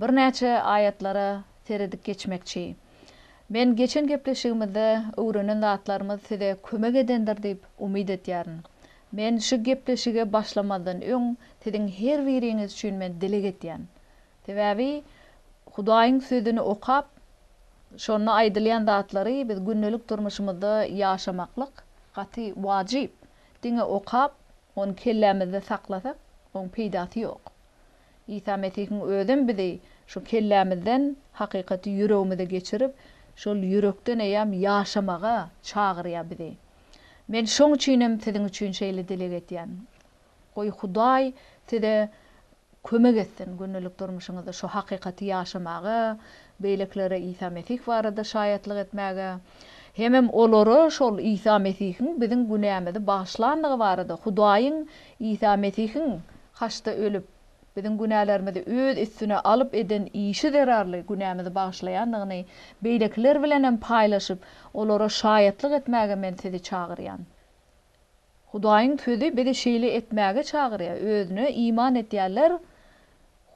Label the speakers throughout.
Speaker 1: Birnäçe aýatlara seredip geçmekçi. Men geçen gepleşigimizde öwrenen zatlarymyz size kömek edendir diýip umyt edýärin. Men şu gepleşige başlamazdan öň siziň her biriňiz üçin men dileg edýän. Sebäbi Hudaýyň sözüni okap, şonda aýdylýan zatlary biz gündelik durmuşymyzda ýaşamaklyk gaty wajyp. Diňe okap, ony kellämizde saklasak, oň peýdasy ýok. Isa Mesihiň özem bizi şu kellämizden hakykaty ýüregimize geçirip, şol ýürekden eýýäm ýaşamaga çagyrýar bizi. Men şoň üçinem siziň üçin şeýle dileg etýän. Goý Hudaý size kömek etsin gündelik durmuşyňyzda şu hakykaty ýaşamaga, beýlekilere Isa Mesih barada şaýatlyk etmäge, hemem olara şol Isa Mesihiň biziň günämizi bagyşlandygy barada, Hudaýyň Isa Mesihiň Haçda ölüp, biziň günälerimizi öz üstüne alyp eden işi zerarly günämizi bagyşlaýandygyny beýlekiler bilenem paýlaşyp, olara şaýatlyk etmäge men sizi çagyrýan. Hudaýyň Sözi bizi şeýle etmäge çagyrýar, Özüne iman edýänler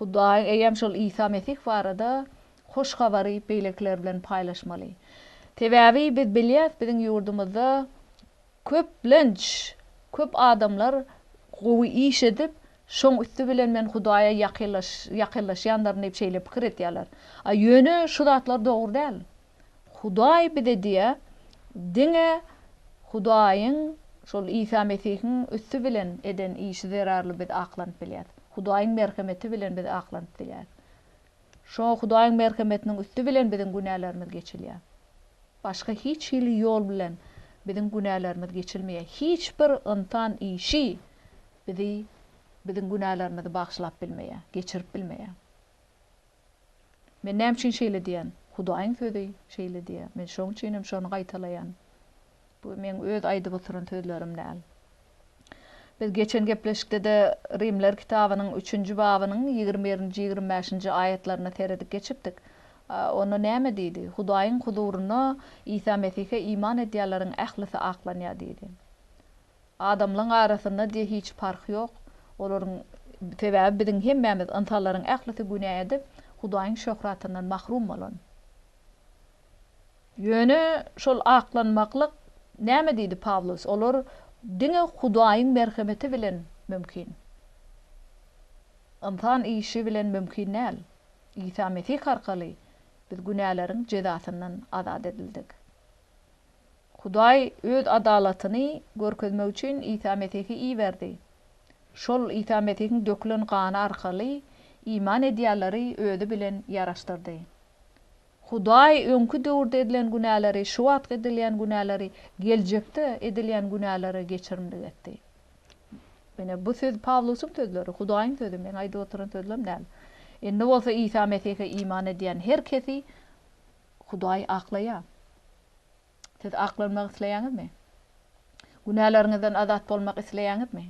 Speaker 1: Hudaýyň eýýäm şol Isa Mesih barada Hoş Habary beýlekiler bilen paýlaşmaly. Sebäbi biz bilýäris, biziň ýurdumyzda Köplenç, köp adamlar gowy iş edip, şoň üsti bilen men Hudaýa ýakynlaşýandyryn diýip şeýle pikir edýärler. A ýöne şu zatlar dogry däl. Hudaý bize diýýär, diňe Hudaýyň, şol Isa Mesihiň üsti bilen eden işi zerarly biz aklanyp bilýäris. Hudaýyň merhemeti bilen biz aklanyp bilýäris. Şoňa Hudaýyň merhemetiniň üsti bilen biziň günälerimiz geçilýär. Başga hiç hili ýol bilen biziň günälerimiz geçilmeýär. Hiç bir ynsan işi bizi, biziň günälerimizi bagşylap bilmeýär, geçirip bilmeýär. Men näme üçin şeýle diýýän? Hudaýyň Sözi şeýle diýýär. Men şoň üçin hem şony gaýtalaýan. Bu meň öz aýdyp oturan sözlerim däl. Biz geçen gepleşikde-de Rimler kitabynyň üçünji babynyň ýigrimi birinji, ýigrimi bäşinji aýatlaryna seredip geçipdik. Onda näme diýdi? Hudaýyň huzurynda Isa Mesihe iman edýänleriň ählisi aklanýar diýdi. Adamlaryň arasynda diýe hiç parh ýok. Olaryň sebäbi biziň hemmämiz, ynsanlaryň ählisi günä edip, Hudaýyň şöhratyndan mahrum bolan. Ýöne şol aklanmaklyk näme diýdi Pawlus, olar diňe Hudaýyň merhemeti bilen mümkin. Ynsan işi bilen mümkin däl. Isa Mesih arkaly biz günäleriň jezasyndan azat edildik. Hudaý öz adalatyny görkezmek üçin Isa Mesihi iberdi. Şol Isa Mesihiň dökülen gany arkaly iman edýänleri özi bilen ýaraşdyrdy. Hudaý öňki döwürde edilen günäleri, şu wagtky edilýän günäleri, geljekde edilýän günäleri geçirimlik etdi. Ine, bu söz Pawlusyň sözleri, Hudaýyň sözi, meň aýdyp oturan sözlem däl. Indi bolsa Isa Mesihe iman edýän her kesi Hudaý aklaýar. Siz aklanmak isleýäňizmi? Günäleriňizden azat bolmak isleýäňizmi?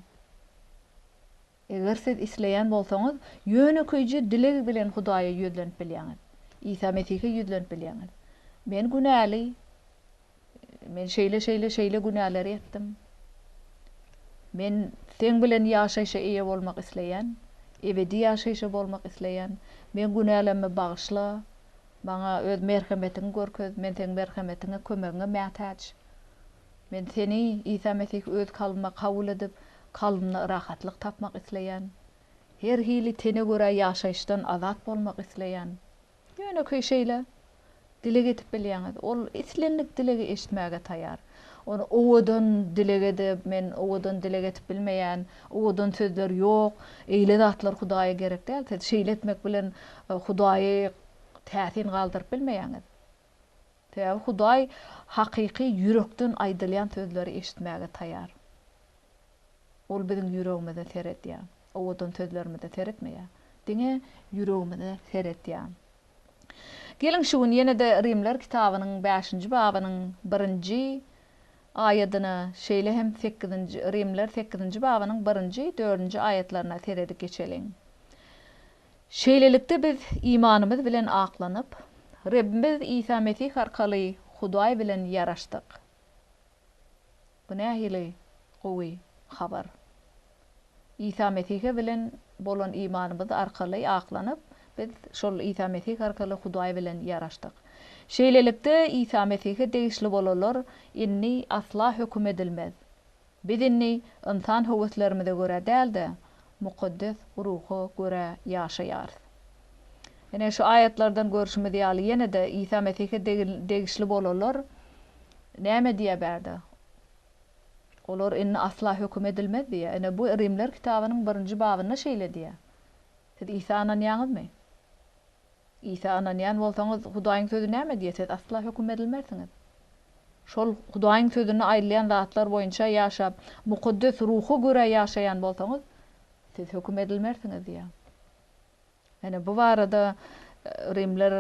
Speaker 1: Eger siz isleýän bolsaňyz, ýönekeýje dileg bilen Hudaýa ýüzlenip bilýäňiz. Isa Mesihe ýüzlenip bilýäňiz. Men günäli. Men şeýle, şeýle, şeýle günäleri etdim. Men Seň bilen ýaşaýşa eýe bolmak isleýän. Ebedi ýaşaýşa bolmak isleýän. Meň günälerimi bagyşla. Maňa Öz merhemetiňi görkez. Men Seň merhemetiňe, kömegiňe mätäç. Men seni, Isa Mesihi öz kalbyma kabul edip, kalbymda rahatlyk tapmak isleýän. Her hili tene görä ýaşaýyşdan azat bolmak isleýän. Ýönekeý şeýle. Dileg edip bilýäňiz. Ol islendik dilegi eşitmäge taýar. Ony owadan dileg edip, men owadan dileg edip bilmeýän, owadan sözler ýok, eýle zatlar Hudaýa gerek däl. Siz şeýle etmek bilen Hudaýy täsin galdyryp bilmeýäňiz. Sebäbi Hudaý hakyky ýürekden aýdylýan sözleri eşitmäge taýar. Ol biziň ýüregimize seredýär. Owadan sözlerimize seretmeýär. Diňe ýüregimize seredýär. Geliň şu gün ýene-de Rimler kitabynyň bäşinji babynyň birinji aýadyna, şeýle hem sekizinji Rimler sekizinji babynyň birinji, dördünji aýatlaryna seredip geçeliň. Şeýlelikde, biz imanymyz bilen aklanyp, Rebbimiz Isa Mesih arkaly Hudaý bilen ýaraşdyk. Bu nähili gowy habar! Isa Mesihe bilen bolan imanymyz arkaly aklanyp, biz şol Isa Mesih arkaly Hudaý bilen ýaraşdyk. Şeýlelikde, Isa Mesihe degişli bolanlar indi asla höküm edilmez. Biz indi ynsan höweslerimize görä däl-de, mukaddes ruha görä ýaşaýarys. Ine, şu aýatlardan görşümiz ýaly, ýene-de Isa Mesihe degişli bolanlar näme diýýär bärde? Olar indi asla höküm edilmez diýýär. Ine, bu Rimler kitabynyň birinji babynda şeýle diýýär. Siz Isa ynanýaňyzmy? Isa ynanýan bolsaňyz, Hudaýyň sözi näme diýýär, siz asla höküm berilmersiňiz. Şol Hudaýyň sözünde aýdylýan zatlar boýunça ýaşap, Mukaddes Ruha görä ýaşaýan bolsaňyz, siz höküm edilmersiňiz diýýär. Ýöne bu barada Rimler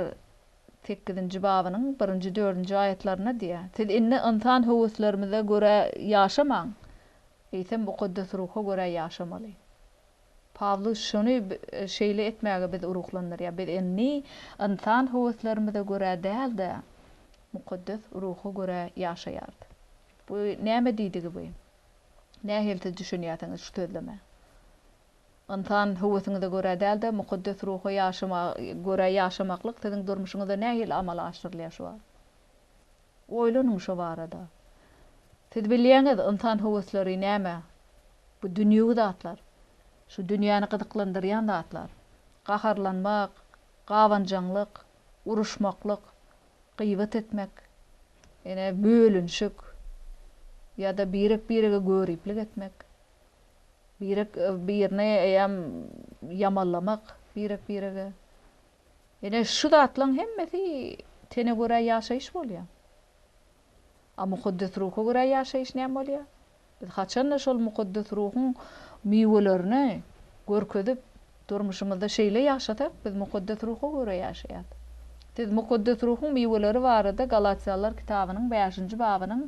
Speaker 1: sekizinji babynyň birinji, dördünji aýatlarynda diýýär, Siz indi ynsan höweslerimize görä ýaşamaň, eýsem Mukaddes Ruha görä ýaşamaly. Pawlus şuny şeýle etmäge bizi ruhlandyrýar, Biz indi ynsan höweslerimize görä däl-de, mukaddes Ruha görä ýaşaýarys. Bu näme diýdigi bu? Nähiliçe düşünýärsiňiz şu sözleme? Ynsan höwesiňize görä däl-de, mukaddes Ruha ýaşama görä ýaşamaklyk siziň durmuşyňyzda nähili amala aşyrylýar şu wagt? Oýlanyň şo barada. Siz bilýäňiz, ynsan höwesleri näme? Bu dünýewi zatlar. Şu dünýäni gyzyklandyrýan zatlar. Gaharlanmak, gabanjaňlyk, uruşmaklyk, gybat etmek, ine, bölünşik ýa-da birek-birege göriplik etmek, birek-birini eýýäm ýamanlamak birek-birege. Ine, şu zatlaryň hemmesi tene görä ýaşaýyş bolýar. A mukaddes ruha görä ýaşaýyş näme bolýar? Biz haçan-da şol mukaddes ruhuň miwelerini görkezip, durmuşymyzda şeýle ýaşasak, biz mukaddes ruha görä ýaşaýarys. Siz mukaddes ruhuň miweleri barada Galatýalylar kitabynyň bäşinji babynyň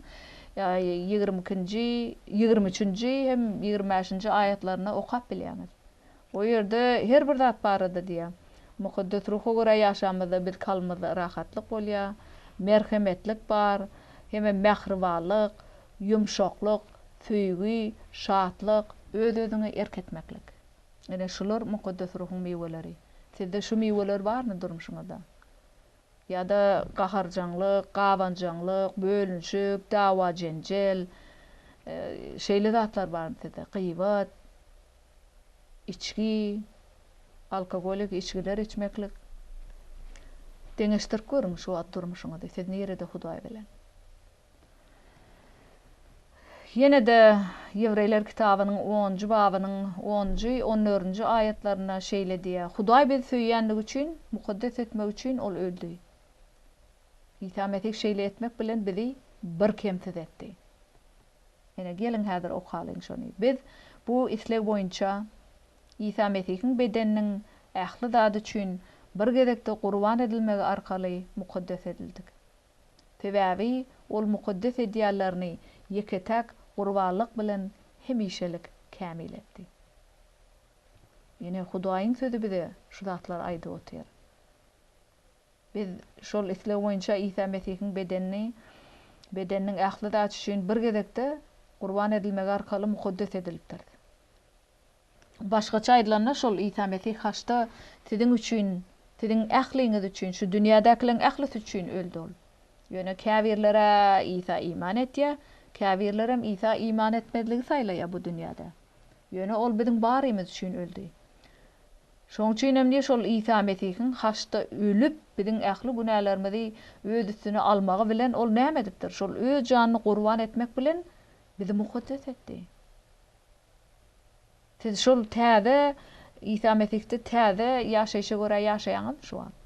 Speaker 1: ýigrimi ikinji, ýigrimi üçünji hem ýigrimi bäşinji aýatlarynda okap bilýäňiz. O ýerde her bir zat barada diýýär. Mukaddes Ruha görä ýaşamyzda biz kalbymyzda rahatlyk bolýar, merhemetlik bar, hemem mähribanlyk, ýumşaklyk, söýgi, şatlyk, öz-özüňe erk etmeklik. Ine, şular Mukaddes Ruhuň miweleri. Sizde şu miweler barmy durmuşyňyzda? Ýa-da gaharjaňlyk, gabanjaňlyk, bölünişik, dawa-jenjel, şeýle zatlar barmy sizde? Gybat, içgi, alkogolik içgiler içmeklik. Deňeşdirip görüň şu wagt durmuşyňyzy, siz nirede Hudaý bilen? Ýene-de Ýewreýler kitabynyň onunjy babynyň onunjy, on dördünji aýatlarynda şeýle diýýär, Hudaý bizi söýýänligi üçin, mukaddes etmek üçin Ol öldi. Isa Mesih şeýle etmek bilen bizi bir kemsiz etdi. Ine, geliň häzir okalyň şony. Biz bu isleg boýunça Isa Mesihiň bedeniniň ähli zady üçin bir gezekde gurban edilmegi arkaly mukaddes edildik. Sebäbi ol mukaddes ideallaryny ýeke-täk gurbanlyk bilen hemişelik kämil etdi. Ýöne Hudaýyň Sözi bize şu zatlary aýdyp otyr. Biz şol isleg boýunça Isa Mesihiň bedenini, bedeniniň ähli zat üçin bir gezekde gurban edilmegi arkaly mukaddes edilipdiris. Başgaça aýdylanda, şol Isa Mesih haçda siziň üçin, siziň ähliňiz üçin, şu dünýädäkileriň ählisi üçin öldi Ol. Ýöne käbirler-ä Isa iman etýär, käbirlerem Isa iman etmezligi saýlaýar bu dünýäde. Ýöne Ol biziň barymyz üçin öldi. Şonuň üçinem diýip, şol Isa Mesihiň haçda ölüp, biziň ähli günälerimizi Öz üstüne almagy bilen Ol näme edipdir? Şol Öz janyny gurban etmek bilen bizi mukaddes etdi. Siz şol täze Isa Mesihde täze ýaşaýşa görä ýaşaýaňyzmy şu wagt?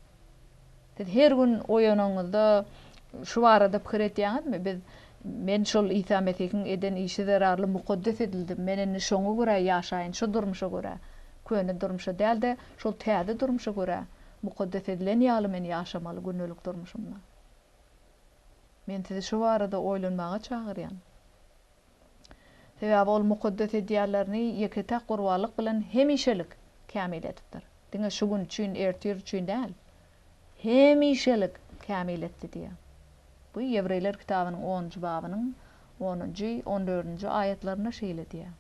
Speaker 1: Siz her gün oýananyňyzda şu barada pikir edýäňizmi, Biz, men şol Isa Mesihiň eden işi zerarly mukaddes edildim, men indi şoňa görä ýaşaýyn, şu durmuşa görä, köne durmuşa däl-de, şol täze durmuşa görä, mukaddes edilen ýaly men ýaşamaly gündelik durmuşymda. Men sizi şu barada oýlanmaga çagyrýan. Sebäbi ol mukaddes edýärlerini ýeke-täk gurbanlyk bilen hemişelik kämil edipdir. Diňe şu gün üçin, ertir üçin däl, hemişelik kämil etdi diýýär. Bu Ýewreýler kitabynyň onunjy babynyň onunjy, on dördünji aýatlarynda şeýle diýýär.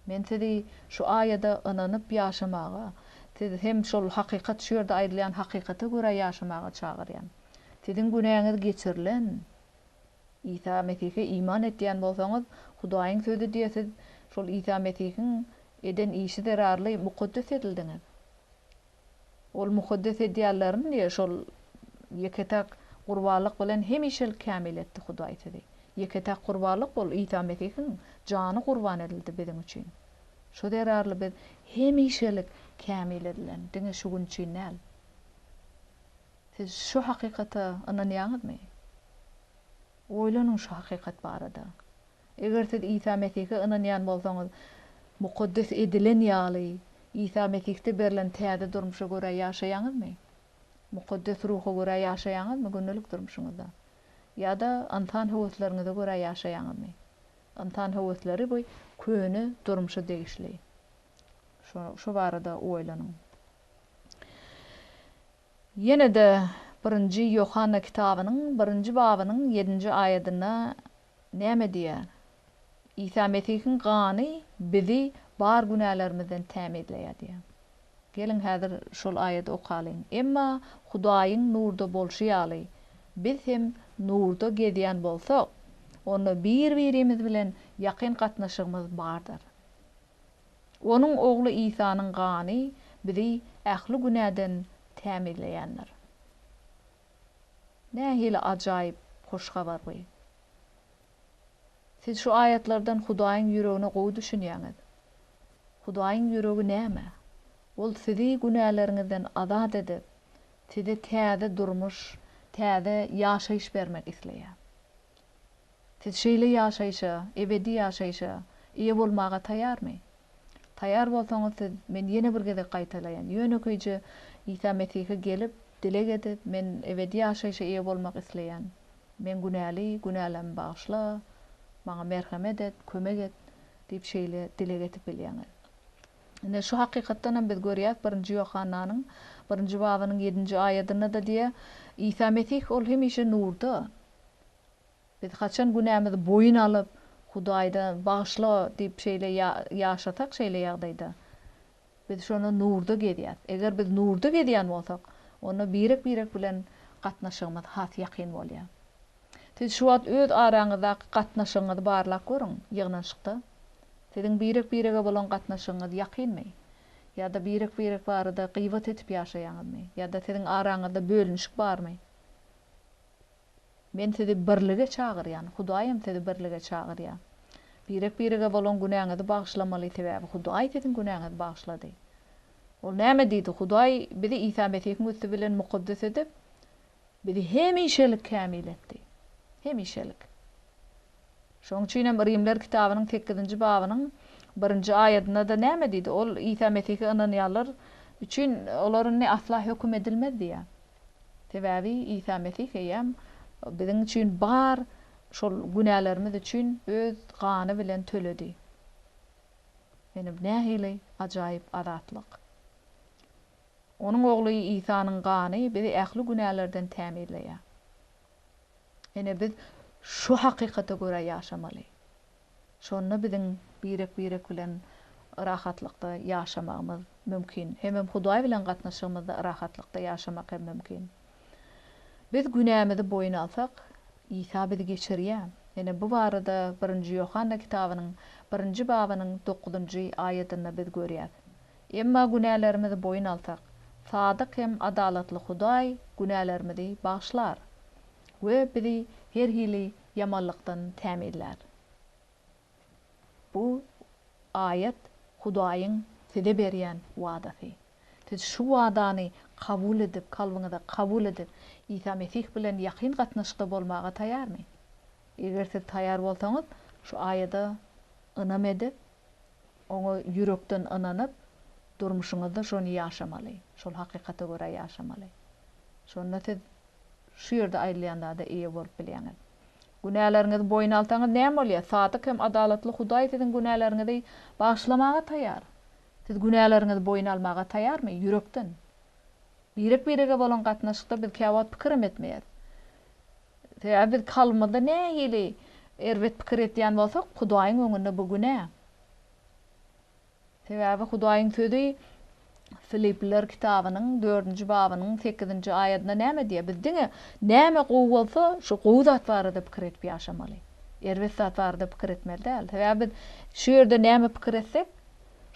Speaker 1: Men sizi şu aýada ynanyp ýaşamaga, siz hem şol hakykat şu ýerde aýdylýan hakykata görä ýaşamaga çagyrýan. Siziň günäňiz geçirilen, Isa Mesihe iman etýän bolsaňyz, Hudaýyň Sözi diýe siz şol Isa Mesihiň eden işi zerarly mukaddes edildiňiz. Ol mukaddes edýänlerini diýe şol ýeke-täk gurbanlyk bilen hemişelik kämil etdi Hudaý sizi. Ýeke-täk gurbanlyk ol Isa Mesihiň jany gurban edildi biziň üçin. Şo zerarly biz hemişelik kämil edilen, diňe şu gün üçin däl. Siz şu hakykata ynanýaňyzmy? Oýlanyň şu hakykat barada. Eger siz Isa Mesihe ynanýan bolsaňyz, mukaddes edilen ýaly, Isa Mesihde berlen täze durmuşa görä ýaşaýaňyzmy? Mukaddes Ruha görä ýaşaýaňyzmy gündelik durmuşyňyzda? Ýa-da ynsan höwesleriňize görä ýaşaýaňyzmy? Ynsan höwesleri bu köne durmuşa degişli. Şo barada oýlanyň. Ýene-de Birinji Ýohanna kitabynyň birinji babynyň ýedinji aýadynda näme diýýär? Isa Mesihiň gany bizi bar günälerimizden tämizleýär diýýär. Geliň häzir şol aýady okalyň. Emma Hudaýyň nurda bolşy ýaly, biz hem nurda gezýän bolsak, onda bir-birimiz bilen ýakyn gatnaşygymyz bardyr. Onuň ogly Isanyň gany bizi ähli günäden tämizleýändir. Nähili ajaýyp hoş habar bu! Siz şu aýatlardan Hudaýyň ýüregine gowy düşünýäňiz. Hudaýyň ýüregi näme? Ol sizi günäleriňizden azat edip, size täze durmuş, täze ýaşaýyş bermek isleýär. Siz şeýle ýaşaýşa, ebedi ýaşaýşa eýe bolmaga taýarmy? Taýar bolsaňyz, siz, men ýene bir gezek gaýtalaýan, ýönekeýje Isa Mesihe gelip, dileg edip, Men ebedi ýaşaýşa eýe bolmak isleýän. Men günäli, günälerimi bagyşla, maňa merhemet et, kömek et diýip şeýle dileg edip bilýäňiz. Ine, şu hakykatdan hem biz görýäs, birinji Ýohannanyň birinji babynyň ýedinji aýadynda-da diýýär, Isa Mesih, ol hemişe nurda. Biz haçan günämizi boýun alyp, Hudaýda bagyşla diýip şeýle ýaşasak şeýle ýagdaýda, biz şonda nurda gezýäs. Eger biz nurda gezýän bolsak, onda birek-birek bilen gatnaşygymyz has ýakyn bolýar. Siz şu wagt öz araňyzdaky gatnaşygyňyzy barlap görüň, ýygnanyşykda siziň birek-birege bolan gatnaşygyňyz ýakynmy? Ýa-da birek-birek barada gybat edip ýaşaýaňyzmy? Ýa-da siziň araňyzda bölünişik barmy? Men sizi birlige çagyrýan, Hudaýam sizi birlige çagyrýar. Birek-birege bolan günäňizi bagyşlamaly, sebäbi Hudaý siziň günäňizi bagyşlady. Ol näme diýdi? Hudaý bizi Isa Mesihiň üsti bilen mukaddes edip, bizi hemişelik kämil etdi. Hemişelik. Şonuň üçin hem Rimler kitabynyň sekizinji babynyň birinji aýadynda-da näme diýdi? Ol Isa Mesihe ynanýanlar üçin olar indi asla höküm edilmez diýýär. Sebäbi Isa Mesih eýýäm biziň üçin bar şol günälerimiz üçin öz gany bilen töledi. Ine bu nähili ajaýyp azatlyk! Onuň Ogly Isanyň gany bizi ähli günälerden tämizleýär. Ine biz şu hakykata görä ýaşamaly. Şonda biziň birek-birek bilen rahatlykda ýaşamagymyz mümkin. Hemem Hudaý bilen gatnaşygymyzda rahatlykda ýaşamak hem mümkin. Biz günämizi boýun alsak, Isa bizi geçirýär. Ine, bu barada Birinji Ýohanna kitabynyň birinji babynyň dokuzynjy aýatynda biz görýäs. Emma günälerimizi boýun alsak, sadyk hem adalatly Hudaý günälerimizi bagyşlar we bizi her hili ýamanlykdan tämizlär. Bu aýat Hudaýyň size berýän wadasy. Siz şu wadany kabul edip, kalbyňyza kabul edip, Isa Mesih bilen ýakyn gatnaşykda bolmaga taýarmy? Eger siz taýar bolsaňyz, şu aýada ynam edip, oňa ýürekden ynanyp, durmuşyňyzda şony ýaşamaly, şol hakykata görä ýaşamaly. Şonda siz Şu ýerde aýdylýan zada eýe bolup bilýäňiz. Günäleriňizi boýun alsaňyz näme bolýar? Sadyk hem adalatly Hudaý siziň günäleriňizi bagyşlamaga taýýar. Siz günäleriňizi boýun almaga taýýarmy? Ýürekden. Birek-birege bolan gatnaşykda biz käwagt pikir hem etmeýäris. Sebäbi biz kalbymyzda nähili erbet pikir etýän bolsak, Hudaýyň öňünde bu günä. Sebäbi Hudaýyň Sözi Filipliler kitabynyň dördünji babynyň sekizinji aýadynda näme diýýär? Biz diňe näme gowy bolsa, şo gowy zat barada pikir edip ýaşamaly. Erbet zat barada pikir etmeli däl. Sebäbi biz şu ýerde näme pikir etsek,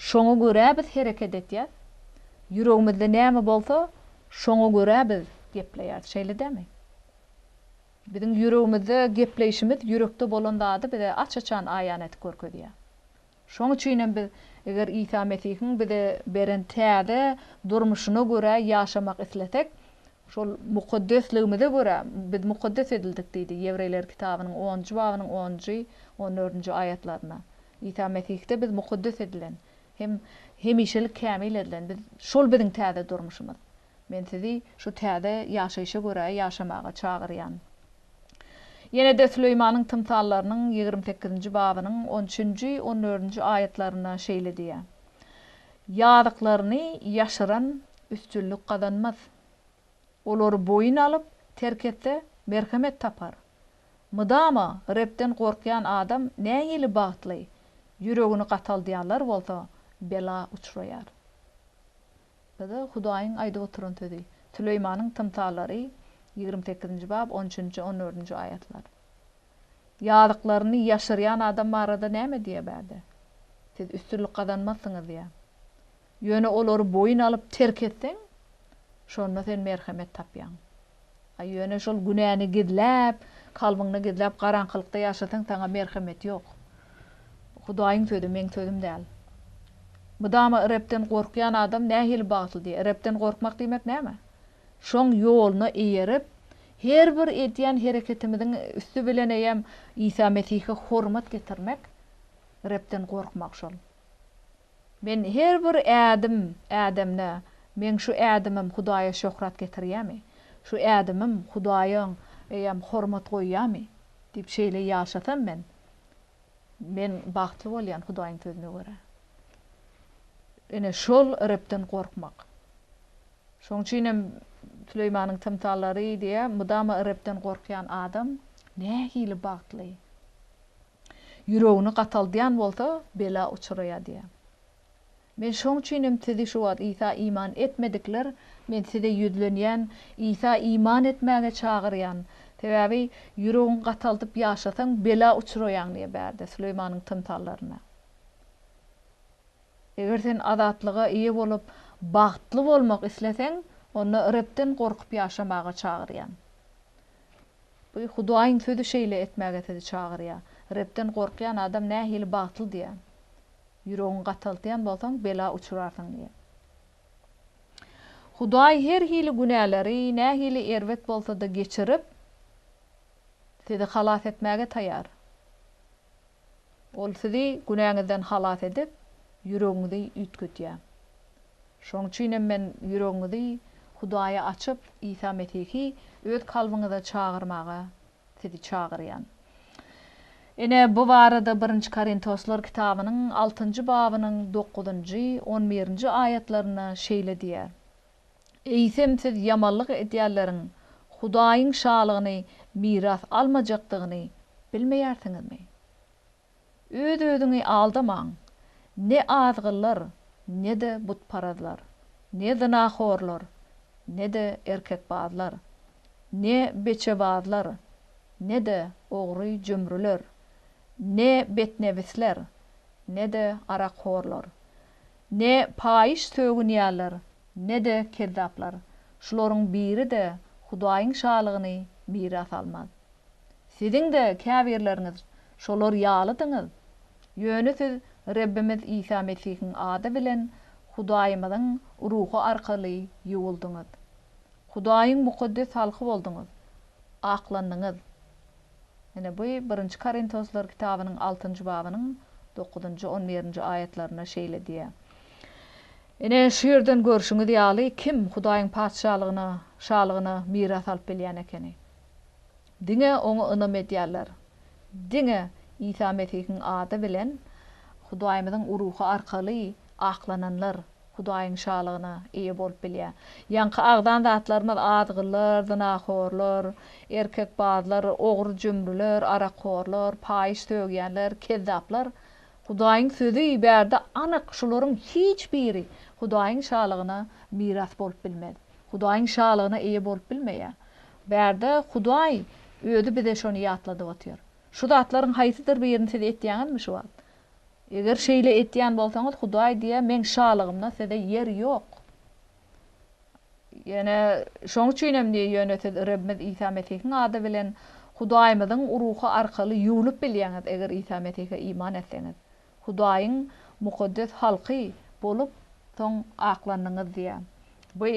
Speaker 1: şoňa görä biz hereket edýäs. Ýüregimizde näme bolsa, şoňa görä biz gepleýäs. Şeýle dälmi? Biziň ýüregimizde gepleýşimiz ýürekde bolan zady bize aç-açan aýan edip görkezýär. Şoň üçin hem biz, eger Isa Mesihiň bize beren täze durmuşyna görä ýaşamak islesek, şol mukaddesligimize görä, biz mukaddes edildik diýdi, Ýewreýler kitabynyň onunjy babynyň onunjy, on dördünji aýatlarynda. Isa Mesihde biz mukaddes edilen hem hemişelik kämil edilen. Biz, şol biziň täze durmuşymyz. Men sizi şu täze ýaşaýşa görä ýaşamaga çagyrýan. Ýene-de Süleýmanyň tymsallarynyň ýigrimi sekizinji babynyň on üçünji, on dördünji aýatlarynda şeýle diýýär, Ýazyklaryny ýaşyran üstünlik gazanmaz. Olary boýun alyp, terk etse, merhemet tapar. Mydama Rebden gorkýan adam nähili bagtly, ýüregini gataldýanlar bolsa bela uçraýar. Ýa-da Hudaýyň aýdyp oturan sözi. Süleýmanyň tymsallary, ýigrimi sekizinji bab, on üçünji, on dördünji aýatlar. Ýazyklaryny ýaşyrýan adam barada näme diýýär bärde? Siz üstünlik gazanmazsyňyz diýýär. Ýöne olary boýun alyp terk etseň, şonda sen merhemet tapýaň. A ýöne şol günäni gizläp, kalbyňda gizläp garaňkylykda ýaşasaň saňa merhemet ýok. Bu Hudaýyň sözi, meň sözüm däl. Mydama Rebden gorkýan adam nähili bagtly diýýär. Rebden gorkmak diýmek näme? Şoň ýoluna eýerip, her bir edýän hereketimiziň üsti bilen eýem Isa Mesihe hormat getirmek, Rebden gorkmak şol. Men her bir ädim ädemde, meň şu ädimim Hudaýa şöhrat getirýärmi? Şu ädimim Hudaýa eýýäm hormat goýýarmy? diýip şeýle ýaşasam men, men bagtly bolýan Hudaýyň sözüne görä. Ine şol Rebden gorkmak. Şoň üçinem Süleýmanyň tymsallary diýýär, mydama Rebden gorkýan adam nähili bagtly. Ýüregini gataldýan bolsa, bela uçraýar diýýär. Men şoň üçinem sizi şu wagt Isa iman etmedikler, men size ýüzlenýän, Isa iman etmäge çagyrýan. Sebäbi ýüregiňi gataldyp ýaşasaň, bela uçraýaň diýýär bärde, Süleýmanyň tymsallarynda. Eger sen azatlyga eýe bolup, bagtly bolmak isleseň, onda Rebden gorkup ýaşamaga çagyrýan. Bu Hudaýyň sözi şeýle etmäge sizi çagyrýar. Rebden gorkýan adam nähili bagtly diýýär. Ýüregiňi gataltýan bolsaň, bela uçrarsyň diýýär. Hudaý her hili günäleri, nähili erbet bolsa-da geçirip, sizi halas etmäge taýar. Ol sizi günäňizden halas edip, ýüregiňizi üýtgedýär. Şoň üçinem men ýüregiňizi Hudaýa açyp, Isa Mesihi öz kalbyňyza çagyrmaga sizi çagyrýan. Ine, bu barada Birinji Korintoslar kitabynyň altynjy babynyň dokuzynjy, on birinji aýatlarynda şeýle diýýär, Eýsem siz ýamanlyk edýänleriň Hudaýyň Şalygyny miras almajakdygyny bilmeýärsiňizmi? Öz-özüňi aldamaň! Ne azgynlar, ne-de butparazlar, ne zynahorlar, ne-de erkekbazlar, ne beçebazlar, ne-de ogry-jümrüler, ne betnebisler, ne-de arakhorlar, ne paýyş sögünýänler, ne-de kezzaplar, şularyň biri-de Hudaýyň Şalygyny miras almaz. Siziň-de käbirleriňiz şolar ýalydyňyz. Ýöne siz Rebbimiz Isa Mesihiň ady bilen Hudaýymyzyň Ruhy arkaly ýuwuldyňyz. Hudaýyň mukaddes halky bolduňyz. Aklandyňyz. Ine, bu Birinji Korintoslar kitabynyň altynjy babynyň dokuzynjy, on birinji aýatlarynda şeýle diýýär. Ine, şu ýerden görşüňiz ýaly, kim Hudaýyň Patyşalygyna, şalygyna miras alyp bilýän ekeni? Diňe Oňa ynam edýärler. Diňe Isa Mesihiň ady bilen Hudaýymyzyň Ruhy arkaly aklananlar Hudaýyň Şalygyna eýe bolup bilýär. Ýaňky agzan zatlarymyz azgynlar, zynahorlar, erkekbazlar, ogry-jümrüler, arakhorlar, paýyş sögýänler, kezzaplar. Hudaýyň Sözi bärde anyk, şularyň hiç biri Hudaýyň Şalygyna miras bolup bilmez. Hudaýyň Şalygyna eýe bolup bilmeýär. Bärde Hudaý Özi bize şony ýatladyp otyr. Şu zatlaryň haýsydyr birini siz etýäňizmi şu wagt? Eger şeýle etýän bolsaňyz, Hudaý diýýär, Meň Şalygymda size ýer ýok. Ýöne şoň üçin hem diýýär, Ýöne siz Rebimiz Isa Mesihiň ady bilen Hudaýymyzyň Ruhy arkaly ýuwlup bilýäňiz, eger Isa Mesihe iman etseňiz. Hudaýyň mukaddes halky bolup, soň aklandyňyz diýýär. Bu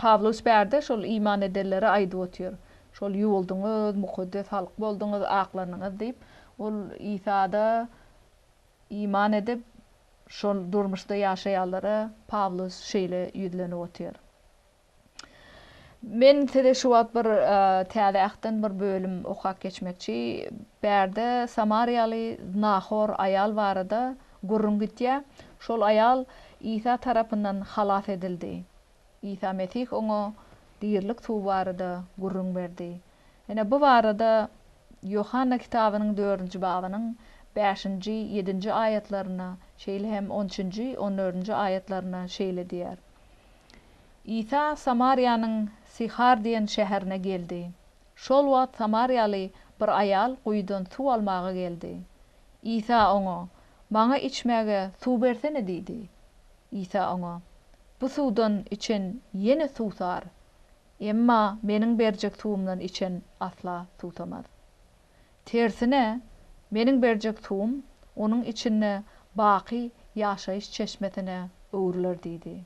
Speaker 1: Pawlus bärde şol iman edenlere aýdyp otyr. Şol ýuwuldyňyz, mukaddes halk bolduňyz, aklandyňyz diýip, ol Isada iman edip, şol durmuşda ýaşaýanlara Pawlus şeýle ýüzlenip otyr. Men size şu wagt bir Täze Ähtden bir bölüm okap geçmekçi. Bärde samariýaly znahor aýal barada gürrüň gitýär. Şol aýal Isa tarapyndan halas edildi. Isa Mesih oňa dirilik suwy barada gürrüň berdi. Ine, bu barada Ýohanna kitabynyň dördünji babynyň bäşinji, ýedinji aýatlaryna, şeýle hem on üçünji, on dördünji aýatlaryna şeýle diýýär, Isa Samariýanyň Syhar diýen şäherine geldi. Şol wagt samariýaly bir aýal guýudan suw almaga geldi. Isa oňa, Maňa içmäge suw bersene diýdi. Isa oňa, Bu suwdan içen ýene suwsar. Emma Meniň berjek suwumdan içen asla suwsamaz. Tersine, meniň berjek suwum onuň içinde baky ýaşaýyş çeşmesine öwrüler diýdi.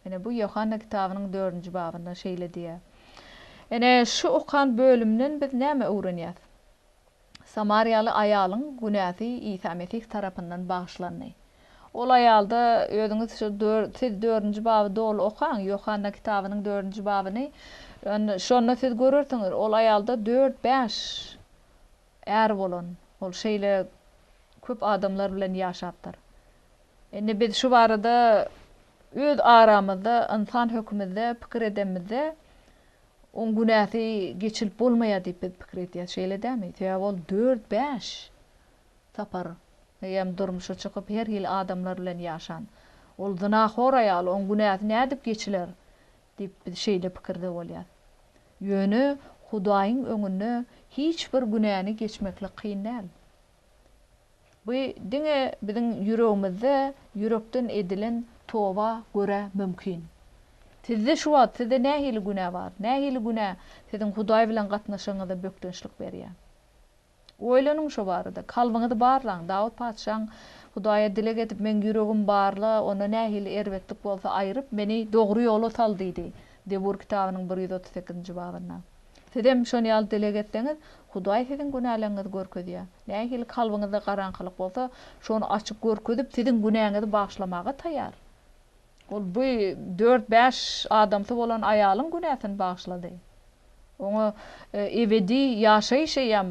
Speaker 1: Ine, bu Ýohanna kitabynyň dördünji babynda şeýle diýýär. Ine, şu okan bölümden biz näme öwrenýäs? Samariýaly aýalyň günäsi Isa Mesih tarapyndan bagyşlandy. Ol aýalda özüňiz şu dör siz dördünji baby doly okaň, Ýohanna kitabynyň dördünji babyny. Ýöne şonda siz görersiňiz, ol aýalda dört-bäş äri bolan. Ol şeýle köp adamlar bilen ýaşapdyr. Indi biz şu barada öz aramyzda ynsan hökümizde pikir edemizde, oň günäsi geçilip bolmaýar diýip biz pikir edýäs. Şeýle dämi? Sebäbi ol dört-bäş tapar, eýýäm durmuşa çykyp, her hili adamlar bilen ýaşan. Ol zynahor aýal, oň günäsi nädip geçiler? diýip, biz şeýle pikirde bolýas. Ýöne Hudaýyň öňünde hiç bir günäni geçmeklik kyn däl. Bu diňe biziň ýüregimizde ýürekden edilen toba görä mümkin. Sizde şu wagt sizde nähili günä bar? Nähili günä siziň Hudaý bilen gatnaşygyňyza bökdençlik berýär? Oýlanyň şo barada. Kalbyňyzy barlaň. Dawut patyşaň, Hudaýa dileg edip, meň ýüregimi barla, onda nähili erbetlik bolsa aýryp, meni dogry ýola sal diýdi. Zebur kitabynyň bir ýüz otuz sekizinji babynda. Sizem şon ýaly dileg etseňiz, Hudaý siziň günäleriňizi görkezýär. Nähili kalbyňyzda garaňkylyk bolsa, şony açyp görkezip, siziň günäňizi bagyşlamaga taýýar. Ol bu dört-bäş adamsy bolan aýalyň günäsini bagyşlady. Oňa ebedi ýaşaýyş eýýäm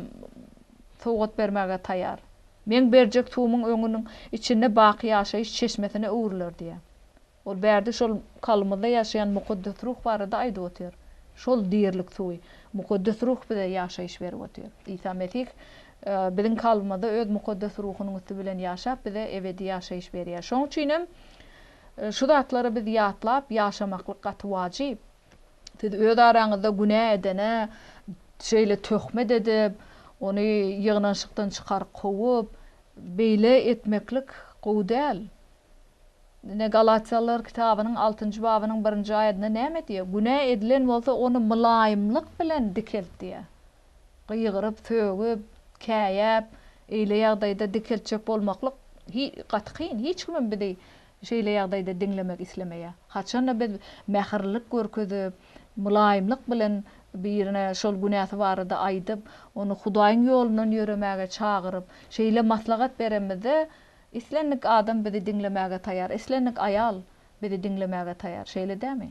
Speaker 1: sowgat bermäge taýýar. Meň berjek suwumyň öňüniň içinde baky ýaşaýyş çeşmesine öwrüler diýýär. Ol bärde şol kalbymyzda ýaşaýan Mukaddes Ruh barada aýdyp otyr. Şol dirilik suwy, Mukaddes Ruh bize ýaşaýyş berip otyr. Isa Mesih biziň kalbymyzda öz Mukaddes Ruhunyň üsti bilen ýaşap, bize ebedi ýaşaýyş berýär. Şoň üçin hem. Şu zatlary biz ýatlap ýaşamaklyk gaty wajyp. Siz öz araňyzda günä edene şeýle töhmet edip, ony ýygnanyşykdan çykaryp kowup, beýle etmeklik gowy däl. Ine, Galatiýalylar kitabynyň altynjy babynyň birinji aýadynda näme diýýär? Günä edilen bolsa, ony mylaýymlyk bilen dikelt diýýär. Gygyryp, sögüp, käýäp, eýle ýagdaýda dikeltjek bolmaklyk gaty kyn. Hiç kimem bizi şeýle ýagdaýda diňlemek islemeýär. Haçan-da biz mähirlilik görkezip, mylaýymlyk bilen birine şol günäsi barada aýdyp, ony Hudaýyň ýolundan ýöremäge çagyryp, şeýle maslahat beremizde, islendik adam bizi diňlemäge taýýar, islendik aýal bizi diňlemäge taýýar. Şeýle dämi?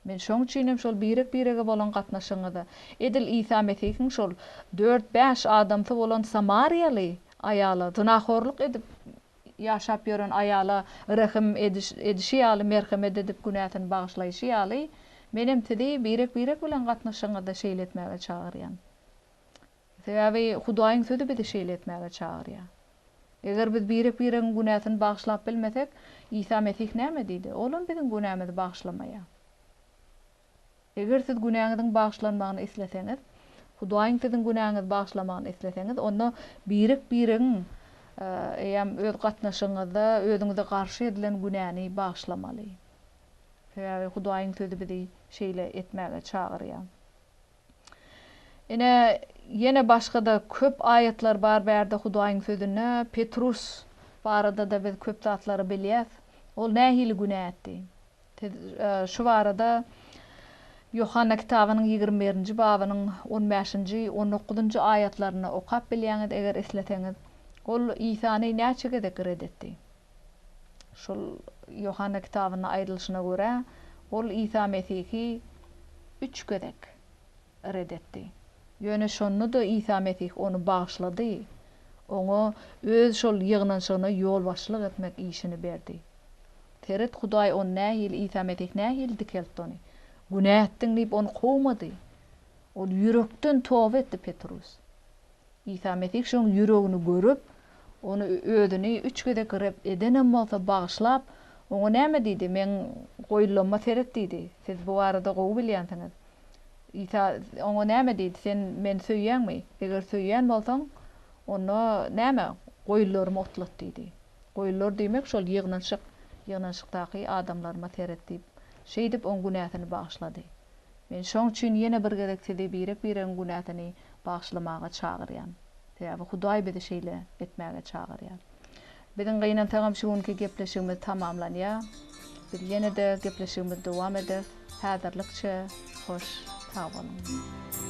Speaker 1: Men şoň üçinem şol birek-birege bolan gatnaşygyňyza, edil Isa Mesihiň şol dört-bäş adamsy bolan samariýaly aýala, zynahorluk edip ýaşap ýören aýala rehim edişi ýaly, merhemet edip günäsini bagyşlaýşy ýaly, menem sizi birek-birek bilen gatnaşygyňyzda şeýle etmäge çagyrýan. Sebäbi Hudaýyň Sözi bizi şeýle etmäge çagyrýar. Eger biz birek-biregiň günäsini bagyşlap bilmesek, Isa Mesih näme diýdi? Olam biziň günämizi bagyşlamaýar. Eger siz günäňiziň bagyşlanmagyny isleseňiz, Hudaýyň siziň günäňizi bagyşlamagyny isleseňiz, onda birek-biregiň eýäm öz gatnaşygyňyzda özüňize garşy edilen günäni bagyşlamaly. Sebäbi Hudaýyň Sözi bizi şeýle etmäge çagyrýar. Ine, ýene başga-da köp aýatlar bar bu ýerde Hudaýyň Sözünde. Petrus barada-da biz köp zatlary bilýäs. Ol nähili günä etdi? Siz şu barada Ýohanna kitabynyň ýigrimi birinji babynyň on bäşinji, on dokuzynjy aýatlarynda okap bilýäňiz, eger isleseňiz. Ol Isany näçe gezek ret etdi? Şol Ýohanna kitabynda aýdylyşyna görä, ol Isa Mesihi üç gezek red etdi. Ýöne şonda-da Isa Mesih ony bagyşlady, oňa Öz şol ýygnanyşygyna ýolbaşçylyk etmek işini berdi. Seret, Hudaý ony nähili, Isa Mesih nähili dikeltdi ony? Günä etdiň diýip, ony kowmady. Ol ýürekden toba etdi, Petrus. Isa Mesih şoň ýüregini görüp, ony özüni üç gezek red edenem bolsa bagyşlap, oňa näme diýdi? Meň goýulanyma seret diýdi. Siz bu barada gowy bilýänsiňiz. Isa oňa näme diýdi? Sen meni söýýäňmi? Eger söýýän bolsaň, onda näme, goýunlarymy otlat diýdi. Goýunlar diýmek şol ýygnanyşyk, ýygnanyşykdaky adamlaryma seret diýip, şeýdip oň günäsini bagyşlady. Men şoň üçin ýene bir gezek sizi birek-biregiň günäsini bagyşlamaga çagyrýan. Sebäbi Hudaý bizi şeýle etmäge çagyrýar. Biziň gynansagam şu günki gepleşigimiz tamamlanýar. Biz ýene-de gepleşigimizi dowam ederis. Häzirlikçe hoş sag boluň.